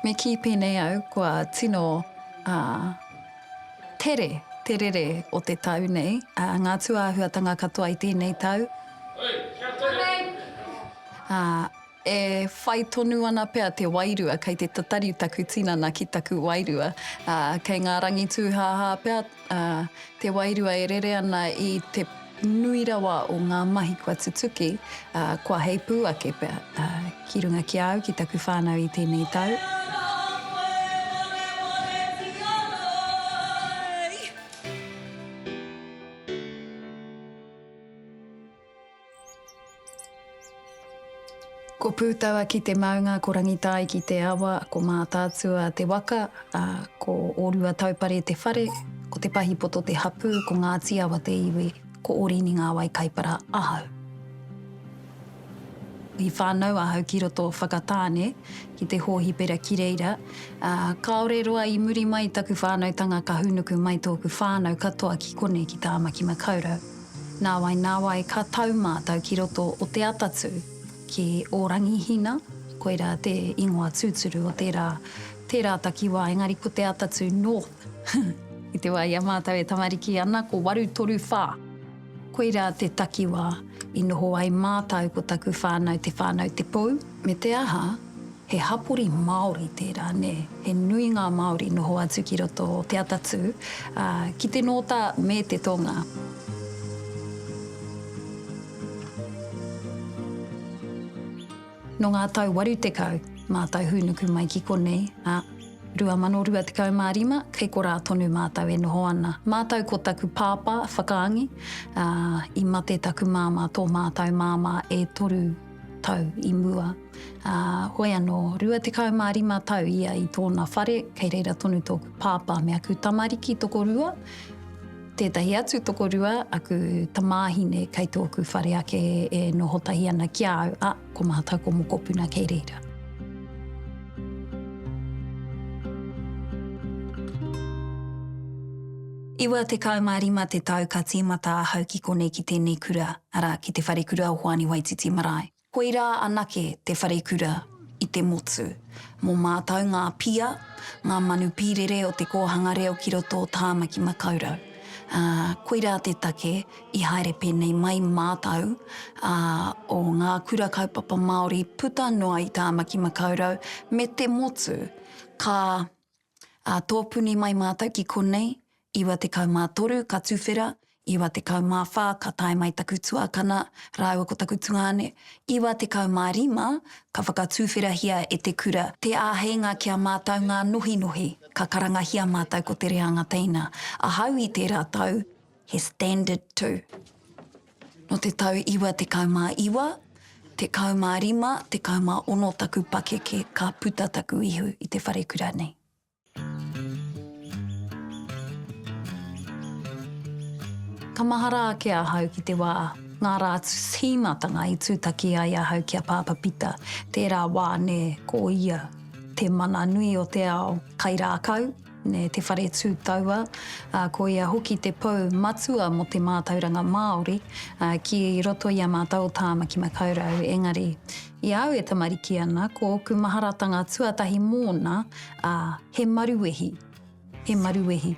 Me kī pēnei au kua tino tere te rere o te tau nei, ngā tūāhuatanga katoa i tēnei tau. Oi, kia tere! E whai tonu ana pea te wairua, kei te tatari taku tinana ki taku wairua, ā, kei ngā rangi tūhāhā pea, ā, te wairua e rere ana i te nui rawa o ngā mahi kua tutuki, ā, kua heipū ake pea, ā, ki runga ki a au, ki taku whānau i tēnei tau. Ko Pūtaua ki te maunga, ko Rangitāi ki te awa, ko Mātaatua te waka, ā, ko Ōruataupare te whare, ko Te Pahipoto te hapū, ko Ngāti Awa te iwi, ko Ōrini ngā wai kaipara ahau. I whānau ahau ki roto o Whakatāne, ki te hōhipera ki reira, ā, kāore roa i muri mai taku whānautanga ka hūnuku mai tōku whānau katoa ki konei ki Tāmaki-makau-rau. Nāwai nāwai ka tau mātou ki roto o te atatū, ki Ōrangihina, koirā te ingoa tūturu o tērā, tērā takiwā, engari ko te atatū North. I te wā i a mātou e tamariki ana, ko Warutoruwhā. Koirā te takiwā i noho ai mātou ko taku whānau te whānau Te Pou, me te aha, He hapori Māori tērā, nē? He nui ngā Māori noho atu ki roto o Te Atatū, ā, ki te Nōta me te Tonga. Nō ngā tau waru tekau, mātou hūnuku mai ki konei, ā, 2025, kei korā tonu mātou e noho ana. Mātou ko taku pāpā, Whakaangi, ā, i mate taku māmā, tō mātou māmā e toru tau i mua. Ā, hoi anō, rua tekau mā rima tau ia i tōna whare, kei reira tonu tōku pāpā me aku tamariki tokorua, tētahi atu tokorua, aku tamāhine kei tōku whare ake e noho tahi ana ki a au, ā, ko mātou ko mokopuna kei reira. Iwa tekau mā rima te tau ka tīmata ahau ki konei ki tēnei kura, arā, ki Te Wharekura o Hoani Waititi Marae. Koirā anake te wharekura i te motu. Mō mātau ngā pia, ngā manu pīrere o te kōhanga reo ki roto o Tāmaki Makaurau. Ā, koirā te take i haere pēnei mai mātau, ā, o ngā kura kaupapa Māori puta noa i Tāmaki Makaurau me te motu, ka. Ā, tōpuni mai mātou ki konei, iwa tekau mā toru ka tuwhera, iwa tekau mā whā ka tae mai taku tuakana rāua ko taku tungāne, iwa tekau mā rima ka whakatuwherahia e te kura te āheinga ki a mātou ngā nohinohi, ka karangahia mātou ko te reanga teina. Ahau i tērā tau, He standard tū. Nō te tau iwa tekau mā iwa, tekau mā rima, tekau mā ono taku pakeke ka puta taku ihu i te wharekura nei. Ka mahara ake ahau ki te wā, ngā rā tīmatanga i tūtaki ai ahau ki a Pāpā Pita, tērā wā nē, ko ia te mana nui o te ao, kai rākau, E te whare tū taua, ko ia hoki te pou matua mō te mātauranga Māori ki roto i a mātou o Tāmaki Makaurau. Engari, i a au e tamariki ana, ko ōku maharatanga tuatahi mōna, he maruwehi, he maruwehi.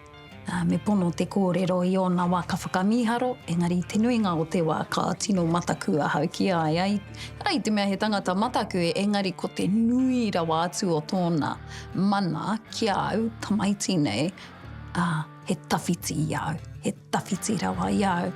Me pono te kōrero i ōna wā ka whakamīharo, engari i te nuinga o te wā ka tino mataku ahau ki a ia, i te mea he tangata mataku, engari ko te nui rawa atu o tōna. mana ki a au tamaiti nei, ā, he tawhiti i a au, he tawhiti rawa i a au.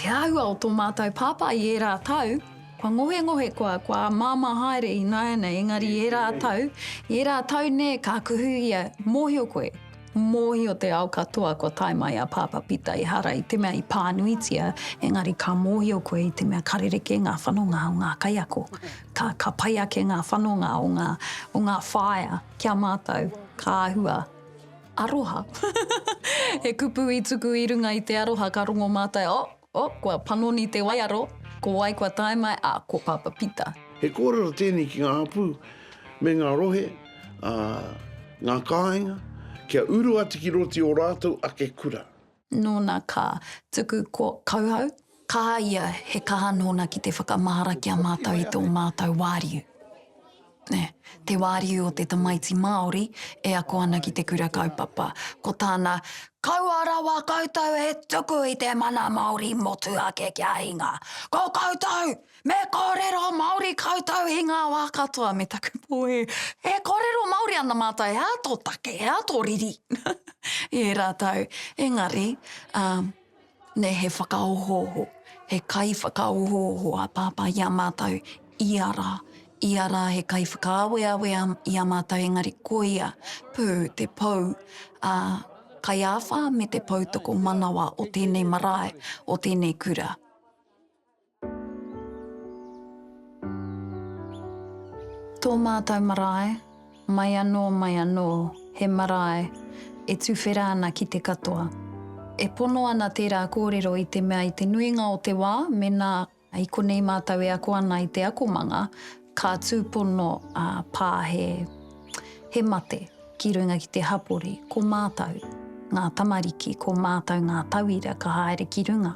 Te āhua o tō mātou pāpā i ērā tau, kua ngohengohe koa, kua māmā haere ināianei, engari i ērā tau, i ērā tau nē ka kuhu ia, mōhio koe, Mōhio te ao katoa kua tae mai a Pāpā Pita ehara i te mea i pānuitia, engari ka mōhio koe i te mea ka rerekē ngā whanonga o ngā kaiako. Ka, ka pai ake ngā whanonga o ngā, o ngā whaea ki a mātou, ka āhua. Aroha. He kupu i tuku i runga i te aroha ka rongo mātou, oh! Oh, kua panoni te waiaro, ko wai kua tae mai, ah, ko Papa Pita. He kōrero tēnei ki ngā hapū me ngā rohe, ā, ngā kāinga, kia uru atu ki roto i ō rātou ake kura. Nōna ka tuku ko Kauhau. Kaha ia, he kaha nōna ki te whakamahara ki a mātou i tō mātou wāriu. te wāriu o te tamaiti Māori e ako ana ki te kura kaupapa. Ko tāna, Kaua rawa koutou e tuku i te mana Māori motu ake kia hinga. Ko koutou, me kōrero Māori koutou i ngā wā katoa me taku pōhē. E kōrero Māori ana mātou, he aha tō take, he aha tō riri? I ērā tau, engari, ā, Nei he whakaohooho, he kaiwhakaohooho a Pāpā i a mātou ia rā. Ia rā he kaiwhakaaweawe i a mātou engari koia pū te pou, ā, kai āwhā me te pou tokomanawa o tēnei marae, o tēnei kura. Tō mātou marae, mai anō, mai anō, he marae e tuwhera ana ki te katoa. E pono ana tērā kōrero i te mea i te nuinga o te wā, mēnā i konei mātou e ako ana i te akomanga, Ka tūpono a Pā he, he mate ki runga ki te hapori, ko mātou ngā tamariki, ko mātou ngā tauira ka haere ki runga,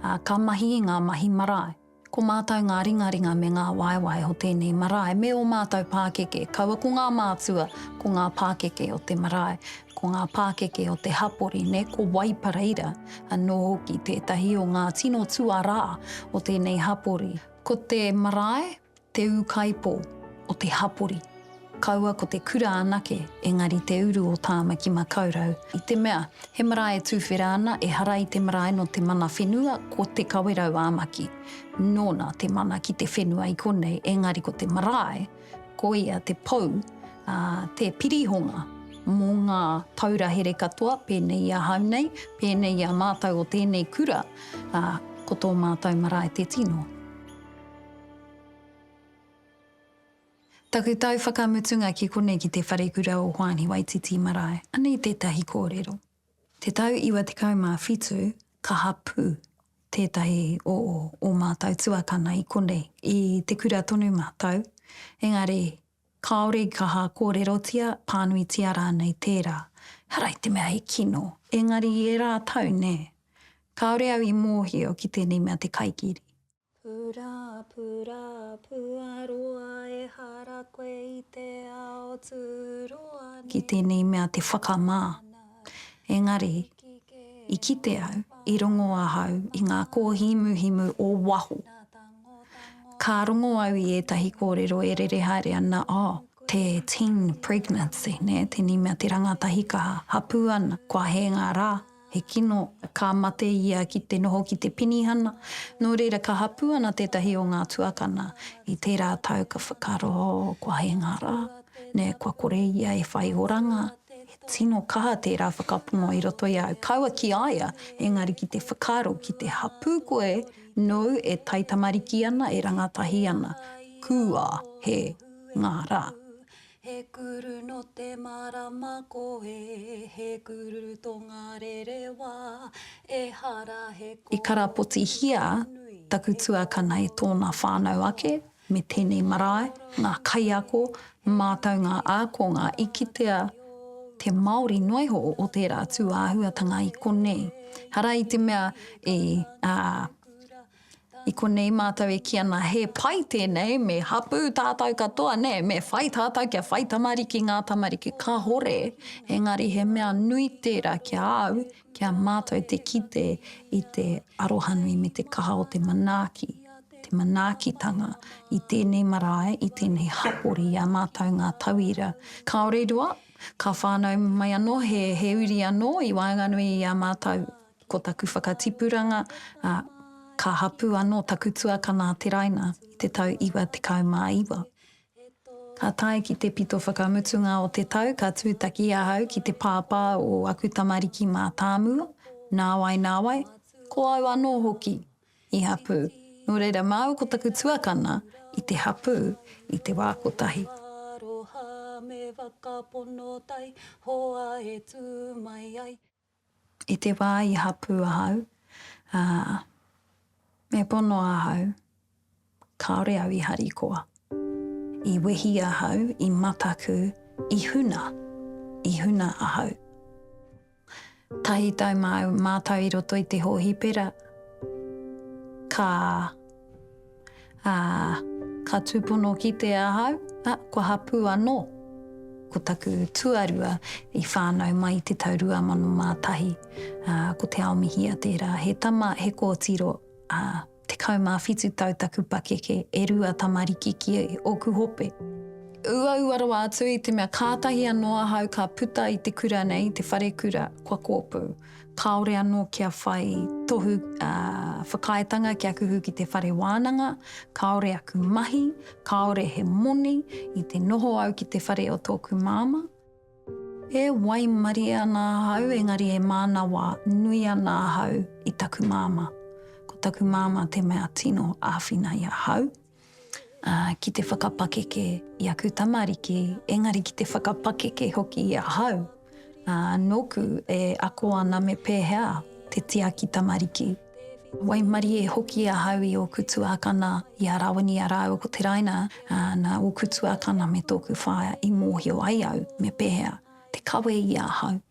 ā, ka mahi i ngā mahi marae. Ko mātou ngā ringaringa me ngā waewae o tēnei marae me ō mātou pākeke, kaua ko ngā mātua, ko ngā pākeke o te marae, ko ngā pākeke o te hapori, nē, ko Waipareira anō hoki tētahi o ngā tino tuarā o tēnei hapori. Ko te marae te ūkaipō o te hapori, kaua ko te kura anake, engari te uru o Tāmaki Makaurau, i te mea, he marae e tūwhera ana, ehara i te marae nō te mana whenua, ko Te Kawerau-ā-Maki, nōna te mana ki te whenua i konei, engari ko te marae, Ko ia te pou, ā, te pirihonga mō ngā taura here katoa, pēnei i ahau nei, pēnei i a mātou o tēnei kura, ā, ko tō mātou marae te tino. Taku tau whakamutunga ki konei ki te Wharekura o Hoani Waititi Marae. Anei tētahi kōrero. Te tau iwa tekau mā whitu ka hapū tētahi o ō mātou tuakana i konei, i te kura tonu mātou, engari kāore i kaha kōrerotia, pānuitia rānei tērā. Ehara i te mea he kino, engari i ērā tau, nē, kāore au i mōhio ki tēnei mea te kaikiri. Purapura, puaroa ehara koe i te ao turoa nei. Ki tēnei mea te whakamā. Engari, i kite au, i rongo ahau i ngā kōhimuhimu o waho. Ka rongo au i ētahi kōrero e rere haere ana, oh, te teen pregnancy, nē, tēnei mea te rangatahi ka hapū ana, kua hē ngā rā. He kino, ka mate ia ki te noho ki te penihana, nō reira ka hapū ana tētahi o ngā tuakana i tērā tau ka whakaaro, oh, kua hēnga rā, nē, kua kore ia e whai oranga, he tino kaha tērā whakapono i roto i a au, kaua ki a ia, engari ki te whakaaro, ki te hapū koe nōu e taitamariki ana, e rangatahi ana, kua hēnga rā. He kururu no te marama koe He kururu to nga rerewa Ehara he koroua nui I karapotihia taku tuakana e tōna whānau ake me tēnei marae, ngā kaiako, mātau ngā ākonga i kitea te Māori noa iho o tērā tūāhuatanga i konei. Hara i te mea i, ā, I konei mātou e kī ana, he pai tēnei, me hapū tātou katoa, nē, me whai tātou kia whai tamariki ngā tamariki, kāhore, engari he mea nui tērā ki a au, ki a mātou te kite i te arohanui me te kaha o te manaaki, te manaakitanga i tēnei marae, i tēnei hapori i a mātou ngā tauira. Kāore i roa, ka whānau mai anō he uri anō i waenganui i a mātou Ko taku whakatipuranga, ā, ka hapū anō taku tuakana a Te Raina i te tau iwa tekau mā iwa. Ka tae ki te pito whakamutunga o te tau ka tūtaki ahau ki te pāpā o aku tamariki mātāmua, nāwai nāwai, ko au anō hoki i hapū, nō reira māu ko taku tuakana i te hapū i te wā kotahi. I te wā i hapū ahau, ā, me pono ahau, kāore au i harikoa. I wehi ahau i mataku, i huna, i huna ahau. Tahi tau māu, mātou i roto i te hōhipera, ka. Ā, ka tūpono kite ahau, ā, kua hapū anō. Ko taku tuarua i whānau mai i te tau 2001, ā, ko Te Aomihia tērā. He tama, he kōtiro, ā, tekau mā whitu tau taku pakeke, e rua tamariki ki ōku hope. Uaua rawa atu i te mea kātahi anō ahau ka puta i te kura nei, i te wharekura, kua kōpū. kāore anō kia whai tohu whakaaetanga kia kuhu ki te whare wānanga, kāore aku mahi, kāore he moni i te noho au ki te whare o tōku māmā. E waimarie ana ahau engari e mānawa nui ana ahau i taku māmā. Ko taku māmā te mea tino āwhina i ahau. ā, ki te whakapakeke i aku tamariki, engari ki te whakapakeke hoki i ahau, ā, nōku e ako ana me pēhea te tiaki tamariki. Waimarie e hoki ahau i ōku tuākana, i a Rawini rāua ko Te Raina, ā, nā ōku tuākana me tōku whaea i mōhio ai au me pēhea te kawe i ahau.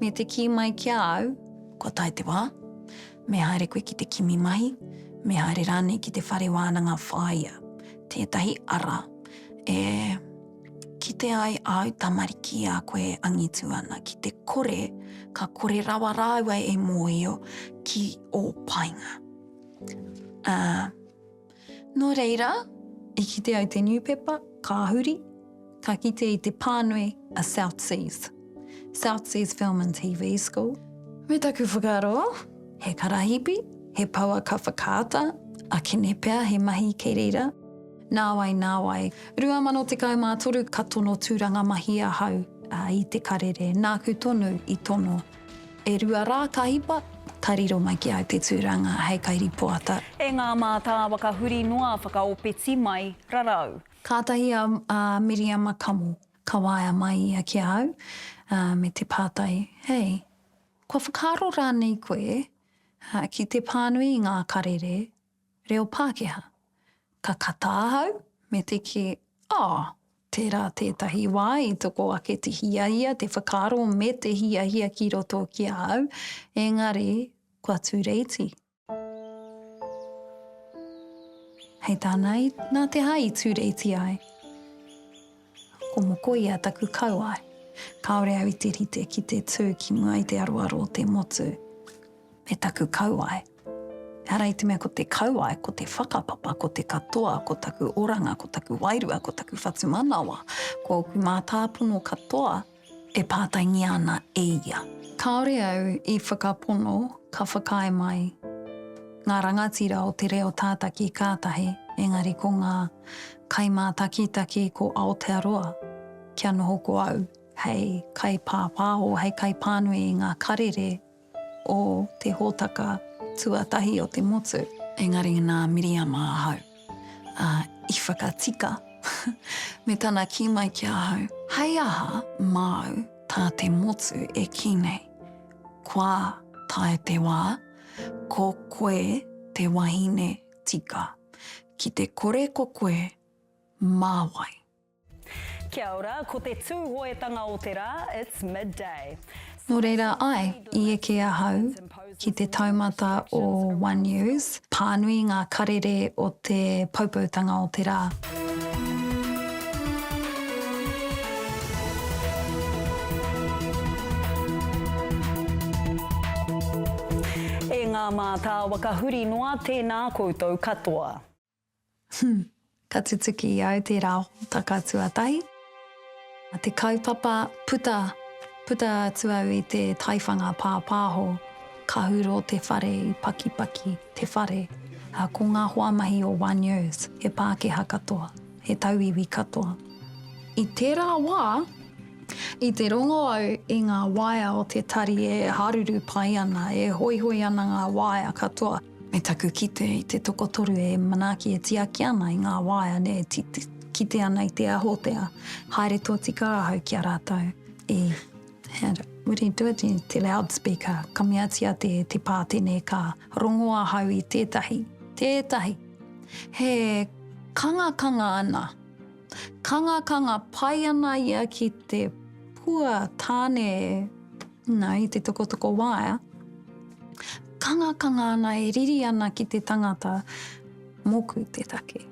Me te kī mai ki a au, Kua tae te wā. Me haere koe ki te kimi mahi, me haere rānei ki te whare wānanga whāia, tētahi ara e kite ai āu tamariki a koe e angitu ana ki te kore, ka kore rawa rāua e mōhio ki ō painga. Ā. Nō reira, i kite ai te niupepa, ka huri, ka kite i te pānui a South Seas, South Seas Film and TV School. Me taku whakaaro, he karahipi, he poua ka whakaata, akene pea he mahi kei reira. Nāwai, nāwai. 2013 ka tono tūranga mahi ahau i te karere, nāku tonu i tono. E rua rā ka hipa, ka riro mai ki au te tūranga hei kairipoata. E ngā mātāwa ka huri noa whakaopeti mai rarau. Kātahi a Miriama kamo, ka waea mai ia ki a au, me te pātai, Hei, kua whakaaro rānei koe ki te pānui i ngā karere? reo Pākehā. Ka kata ahau, me te kī, Oh, tērā tētahi wā i toko ake te hiahia, te whakaaro me te hiahia ki roto ki a au, engari kua tūreiti. Hei tāna, Nā te hā i tūreiti ai. Ko Mokoia taku kauae. Kāore au i te rite ki te tū ki mua i te aroaro o te motu me taku kauae. Ehara i te mea ko te kauae, ko te whakapapa, ko te katoa, ko taku oranga, ko taku wairua, ko taku whatumanawa, ko ōku mātāpono katoa, e pātaingia ana e ia. Kāore au i whakapono ka whakaae mai ngā rangatira o te reo tātaki kātahi engari ko ngā kaimātakitaki ko Aotearoa kia noho ko au hei kaipāpāho, hei kaipānui i ngā karere o te hōtaka tuatahi o te motu. Engari nā Miriama ahau, ā, i whakatika me tana kī mai ki ahau, Hei aha māu tā te motu e kī nei, Kua tae te wā, ko koe te wahine tika, ki te kore ko koe mā wai? Kia ora, ko te Tūhoetanga o te rā, it's midday. Nō reira, āe, i eke ahau ki te taumata o One News, pānui ngā karere o te Poupoutanga o te rā. E ngā mātāwaka huri noa, tēnā koutou katoa. Ka tutuki i au tērā hōtaka tuatahi, te kaupapa puta, puta atu au i te taiwhanga pāpāho, ka hurō te whare i pakipaki te whare. Ko ngā hoamahi o One Years, he Pākehā katoa, he tauiwi katoa. I tērā wā, i te rongo au i ngā waea o te tari e haruru pai ana, e hoihoi ana ngā waea katoa. Me taku kite i te tokotoru e manaaki e tiaki ana i ngā waeane e kite ana i te ahotea, haere tōtika ahau ki a rātou i Hand it, would he do it in te loudspeaker, ka meatia te te pātene ka rongo ahau i tētahi, tētahi, he kangakanga ana, kangakanga pai ana ia ki te pua tāne e. Na, i te tokotoko waea, kangakanga ana e riri ana ki te tangata, Moku te take.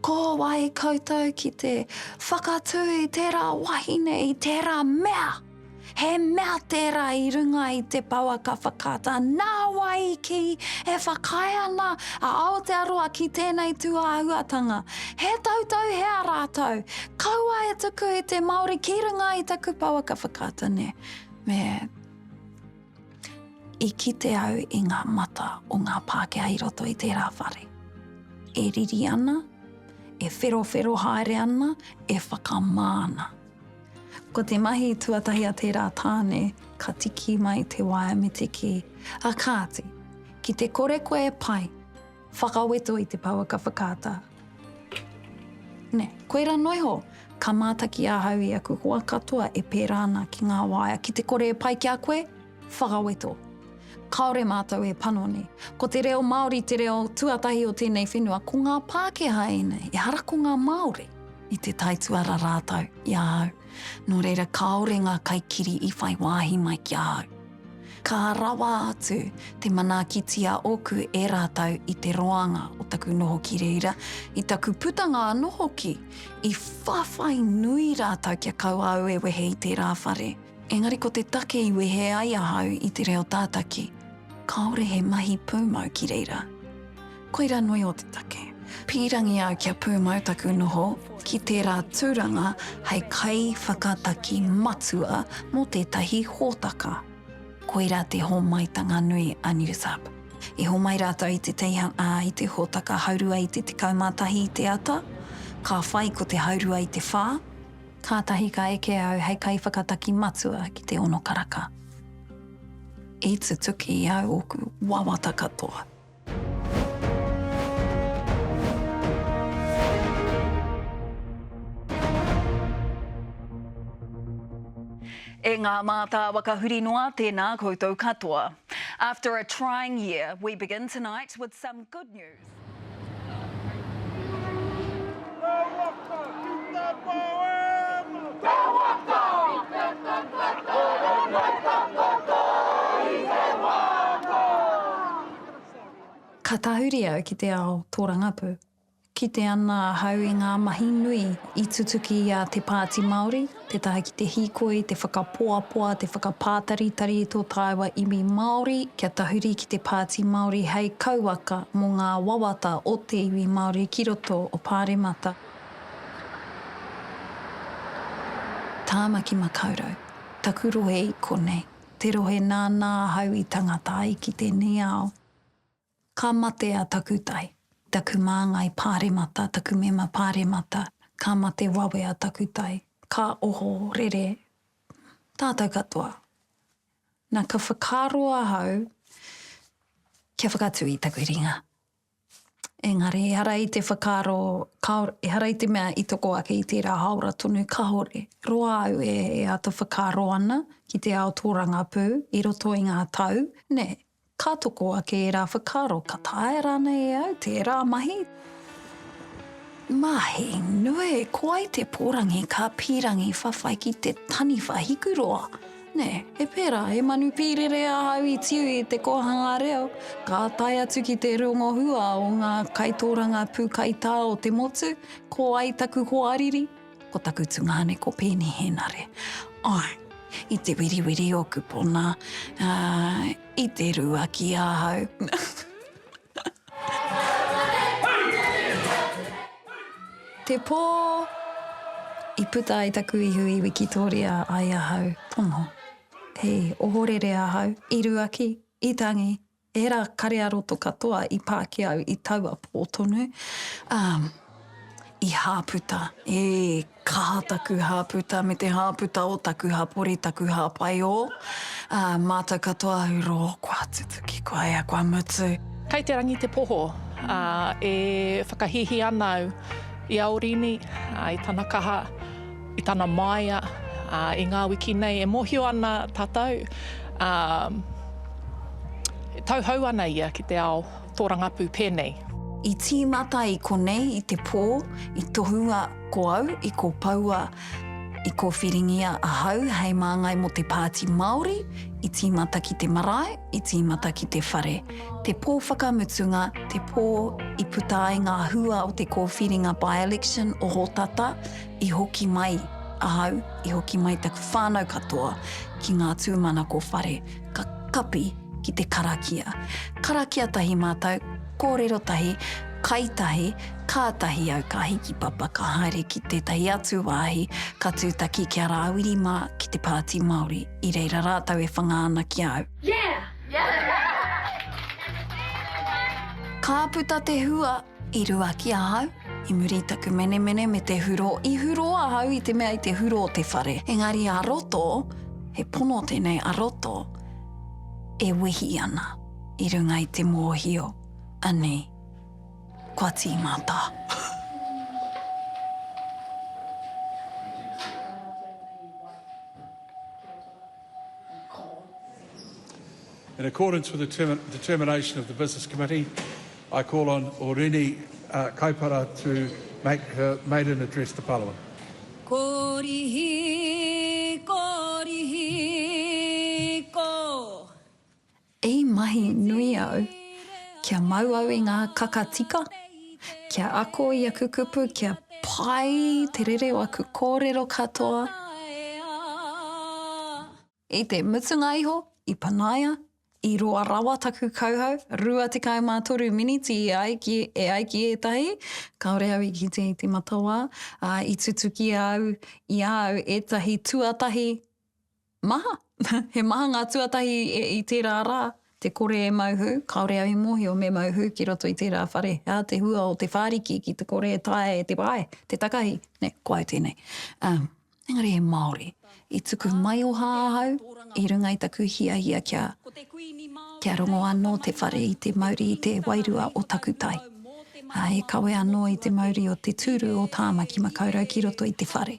Ko wai koutou ki te whakatū i tērā wahine, i tērā mea? He mea tērā i runga i te pouaka whakaata, nāwai kī e whakaae ana a Aotearoa ki tēnei tūāhuatanga, He tautau hea rātou? Kaua e tuku i te Māori ki runga i taku pouaka whakaata ne. Me i kite au i ngā mata o ngā Pākehā i roto i tērā whare. E riri ana, e wherowhero haere ana, e whakamā ana. Ko te mahi tuatahi a tērā tāne, ka tiki mai te waea me te kī. A kāti, ki te kore koe e pai, Whakaweto i te pouaka whakaata. Nē, koirā noa iho, ka mātaki ahau i aku hoa katoa e pērā ana ki ngā waea ki te kore e pai ki a koe, whakaweto. Kāore mātou e panoni. Ko te reo Māori te reo tuatahi o tēnei whenua, ko ngā Pākehā ēnei, ehara ko ngā Māori. I te taituara rātou i ahau, nō reira kāore ngā kaikiri i whai wāhi mai ki ahau. Ka rawa atu te manaakiti a oku e ratou i te roanga o taku noho ki reira, i taku putanga ano hoki, i whawhai nui ratou kia kaua au e wehe i tera whare. Engari ko te take i wehe ai ahau i te reo tataki, kaore he mahi pumau ki reira. Koira nui o te take. Pīrangi au kia pūmau taku noho ki tērā tūranga hei kaiwhakataki matua mō tētahi hōtaka. Koira te hōmaitanga nui a Newsup. I hōmai rātou i te teihana, i te hōtaka haurua i te 11 i te ata, ka whai ko te haurua i te whā, kātahi ka eke au hei kaiwhakataki matua ki te ono karaka, i tutuki i a au ōku wawata katoa. E ngā mātāwaka huri noa, tēnā koutou katoa. After a trying year, we begin tonight with some good news. Ka tahuri au ki te ao tōrangapū. Kite ana ahau i ngā mahi nui i tutuki i a Te Pāti Māori, tētahi ki te hīkoi, te whakapoapoa, te whakapātaritari i tō tāua iwi Māori kia tahuri ki te Pāti Māori hei kauaka mō ngā wawata o te iwi Māori ki roto o Pāremata. Tāmaki Makaurau, taku rohe i konei, te rohe nānā ahau i tangata ai ki tēnei ao. Ka mate a Takutai, taku māngai pāremata, taku mema pāremata, ka mate wawe a Takutai, ka oho rere tātou katoa. Na, ka whakaaro ahau kia whakatū i taku ringa. Engari ehara i te whakaaro, kāo, ehara i te mea i toko ake i tērā hāora tonu, kāore. Roa au e āta whakaaro ana ki te ao tōrangapū i roto i ngā tau, nē, Ka toko ake ērā whakaaro, ka taea rānei e au tērā mahi? Mahi nui, ko ai te pōrangi ka pīrangi whawhai ki te taniwha hikuroa. Nē, he pērā, he manu pīrere ahau i tiu i te kōhanga reo, ka tae atu ki te rongohua o ngā kaitōrangapū kaitā o te motu, ko ai taku hoariri, Ko taku tungāne ko Pēni Hēnare. Ai, i te wiriwiri o Kupona, ā, i te rua ki ahau. Te pō i puta ai taku ihu i Wikitoria ai ahau, tomo. Hei ohorere ahau, i rua ki, i tangi, Ērā kare-ā-roto katoa i pā ki au i taua pō tonu, ā, i hāputa, e, kaha taku hāputa me te hāputa o taku hapori, taku hāpai o, ā, mātou katoa au rō, kua tutuki, kua ea, kua mutu. Kei te rangi te poho, ā, e whakahīhī ana au i a Orini, ā, i tana kaha. i tana māia i ngā wiki nei e mōhio ana tātou e tauhou ana ia ki te ao tōrangapū pēnei. I tīmata i konei i te pō i tohua ko au i kōpoua i kōwhiringia ahau hei māngai mō te Pāti Māori i tīmata ki te marae i tīmata ki te whare te pō whakamutunga te pō i puta ai ngā hua o te kōwhiringa by-election o Hōtata I hoki mai ahau, i hoki mai taku whānau katoa ki ngā tūmanako whare, ka kapi ki te karakia. Karakia tahi mātou, kōrero tahi, kai tahi, kātahi au ka hiki papa ka haere ki tētahi atu wāhi ka tūtaki ki a Rāwiri mā ki te Pāti Māori, i reira rātou e whanga ana ki a au. Yeah! Ka puta te hua! I rua ki ahau, i muri i taku menemene me te hurō, i hurō ahau i te mea i te hurō te whare. Engari a roto, he pono tenei a roto, e wehi ana i runga i te mōhio, anei, kua tīmata. In accordance with the determination of the Business Committee, I call on Orini Kaipara to make her maiden address to Parliament. Korihi, korihi, ko. I mahi nui au kia mau au i ngā kaka tika, kia ako i aku kupu kia pai te rere o aku kōrero katoa. I te mutunga iho, i panaia, i roa rawa taku kauhau, rua tekau mā toru miniti e ai ki, e ai ki ētahi, kāore au i kite i te matawā, ā, i tutukia au i a au ētahi tuatahi maha. He maha ngā tuatahi i tērā rā. Te kore e mau hū, kāore au i mōhio me mau hū ki roto i tērā whare, he aha te hua o te whāriki ki te kore e taea e te pae, te takahi, nē, ko au tēnei. Ā, engari he Māori. I tuku maioha ahau i runga i taku hiahia kia, kia rongo anō te whare i te mauri i te wairua o taku tai. Ā, e kawe anō i te mauri o te tūru o Tāmaki Makaurau ki roto i te whare.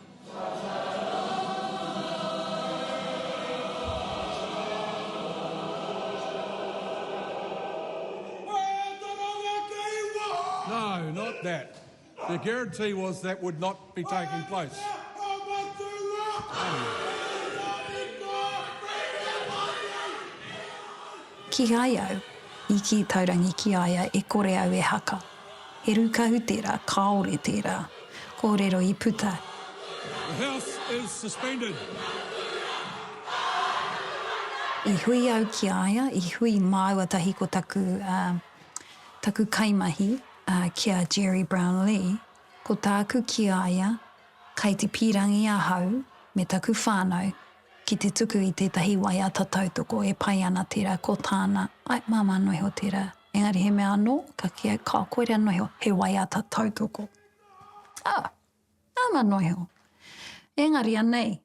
Kīhai au i kī taurangi ki a ia e kore au e haka. He rūkahu tērā, kāore tērā. Kōrero i puta. The House is suspended. I hui au ki a ia, i hui māua tahi ko taku, taku kaimahi, ki a Gerry Brownlee, ko tāku ki a ia, kai te pīrangi ahau me taku whānau ki te tuku i tētahi waiata tautoko e pai ana tērā ko tāna, ai, māmā noa iho tērā. Engari he mea anō, ka kī ai, Kao, koirā noho, he waiata tautoko. Ā, nāna noho. Engari anei,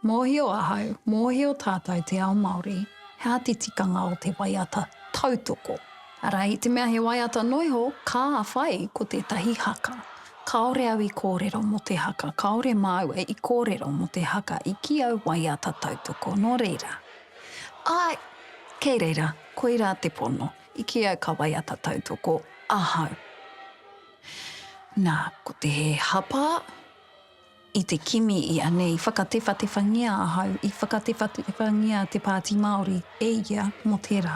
mōhio ahau, mōhio tātou te ao Māori, he āti tikanga o te waiata tautoko. Arā, i te mea he waiata noho, ka whai ko tētahi haka. Kāore au i kōrero mō te haka, kāore māua i kōrero mō te haka i kī au waiata tautoko, nō reira. Āe, kei reira. Koirā te pono. I kī ai ka waiata tautoko ahau. Nā, ko te he hapa i te kimi i a nei, i whakatewhatewhangia ahau, i whakatewhatewhangia te Pāti Māori e ia mō tērā,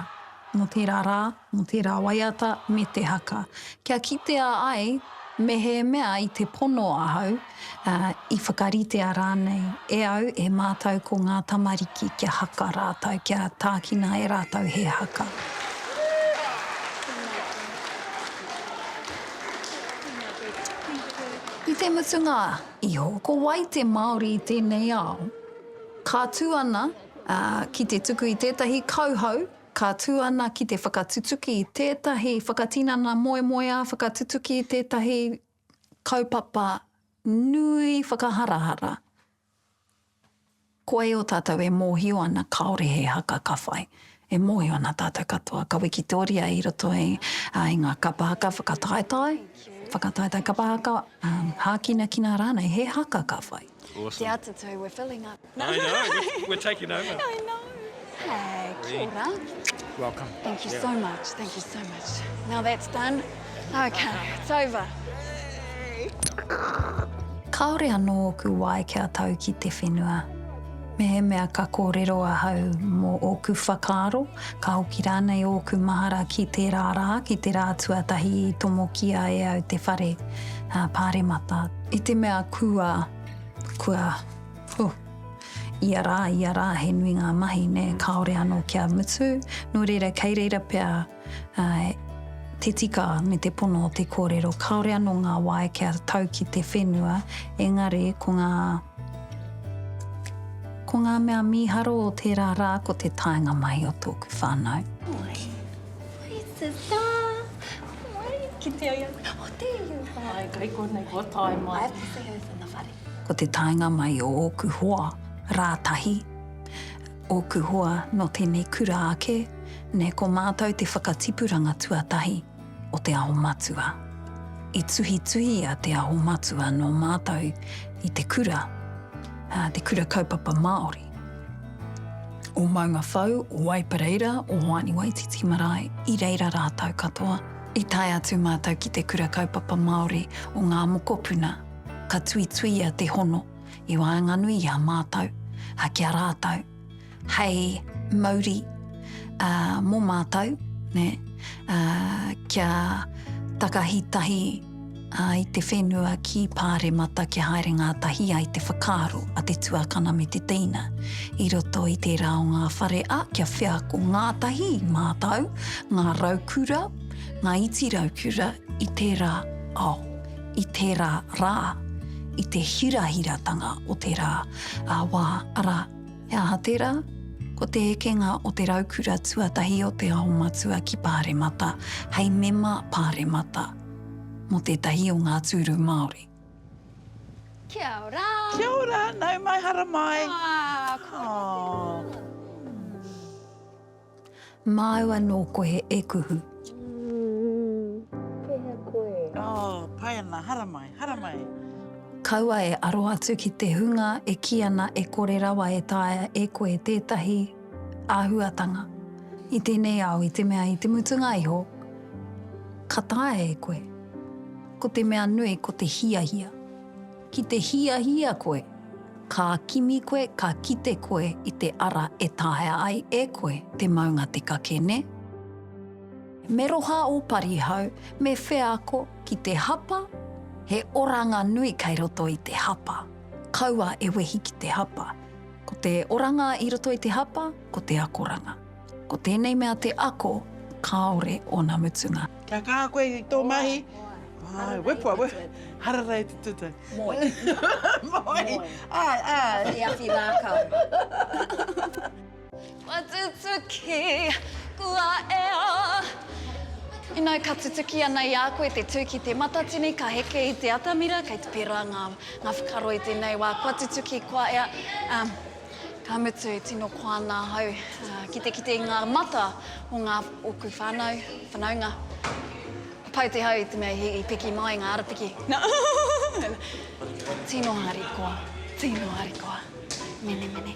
mō tērā rā, mō tērā waiata me te haka. Kia kitea ai mehemea i te pono ahau, ā, i whakaritea rānei e au, e mātou ko ngā tamariki kia haka rātou, kia tākina e rātou he haka. I te mutunga iho, ko wai te Māori i tēnei ao? Ka tū ana ki te tuku i tētahi kauhau, ka tū ana ki te whakatutuki i tētahi whakatinana moemoeā, whakatutuki i tētahi kaupapa nui whakaharahara, ko ēo tātou e mōhio ana kāore he haka ka whai. E mōhio ana tātou katoa ka wikitoria i roto i ngā kapa haka whakataetae, whakataetae kapa haka, hākinakina rānei, he haka ka whai. Awesome. Te Atatū, we're filling up. No. I know, we're taking over. I know. Hey, kia ora. Welcome. Thank you yeah. so much, thank you so much. Now that's done, okay, it's over. Kāore anō ōku wae kia tau ki te whenua. Me he mea ka kōrero ahau mō ōku whakaaro, ka hoki rānei ōku mahara ki tērā rā, ki te rā tuatahi i tomokia e au te whare, uh, pāremata. I te mea kua, kua, huh, ia rā, ia rā, he nui ngā mahi, nē, kāore anō kia mutu, nō reira, kei reira pea uh, te tika me te pono o te kōrero. Kāore anō ngā wae kia tau ki te whenua, engari ko ngā ko ngā mea mīharo o tērā rā ko te taenga mahi o tōku whānau. Oi, oi te tā! Ko te taenga mai o ōku hoa rā tahi, ōku hoa nō tēnei kura ake, nē ko mātou te whakatipuranga tuatahi o Te Aho Matua. I tuhituhia Te Aho Matua nō mātou i te kura, te kura kaupapa Māori. o Maunga Whau, o Waipareira, o Hoani Waititi Marae, i reira rātou katoa. I tae atu mātou ki te Kura Kaupapa Māori o Ngā Mokopuna, ka tuituia te hono i waenganui i a mātou, ā, ki a rātou, hei mauri ā, mō mātou, nē, ā, kia takahi tahi, ā, i te whenua ki Pāremata kia haere ngātahi ai te whakaaro a te tuakana me te teina i roto i tērā o ngā whare, ā, kia wheako ngātahi i mātau ngā raukura, ngā iti raukura i tērā ao, i tērā rā, i te hirahiratanga o tērā wā, arā, He aha tērā? Ko te ekenga o te raukura tuatahi o Te Aho Matua ki Pāremata hei mema Pāremata mō tētahi o ngā tūru Māori. Kia ora! Kia ora, nau mai, haramai! Aa, kua ora te rā! Māua nō koe e kuhu. Kei hea koe? Oh, pai ana, haramai, haramai. Kaua e aro atu ki te hunga e kī ana e kore rawa e taea e koe tētahi āhuatanga i tēnei ao i te mea i te mutunga iho ka taea e koe. Ko te mea nui ko te hiahia. Ki te hiahia koe, ka kimi koe, ka kite koe i te ara e taea ai e koe te maunga te kake, nē? Me roha ō parihau, me wheako ki te hapa, he oranga nui kei roto i te hapa. Kaua e wehi ki te hapa. Ko te oranga i roto i te hapa, ko te akoranga. Ko tēnei mea te ako, kāore ōna mutunga. Kia kaha koe i tō mahi. Āe, wepua, wepua. Harara e te tūtau. Moe. Moe. Āe, āe. Awhiawhi rākau. Kua tutuki, kua ea. Inau ka tutuki ana i a koe te tū ki te matatini, ka heke i te atamira, kei te pērā ngā whakaaro i tēnei wā. Kua tutuki, kua ea. Ka mutu, tino koa nā hau ki te kite i ngā mata o ngā ōku whānau, whanaunga. Pau te hau i te mea i piki mai ngā arapiki. Tino harikoa, tino harikoa. Menemene.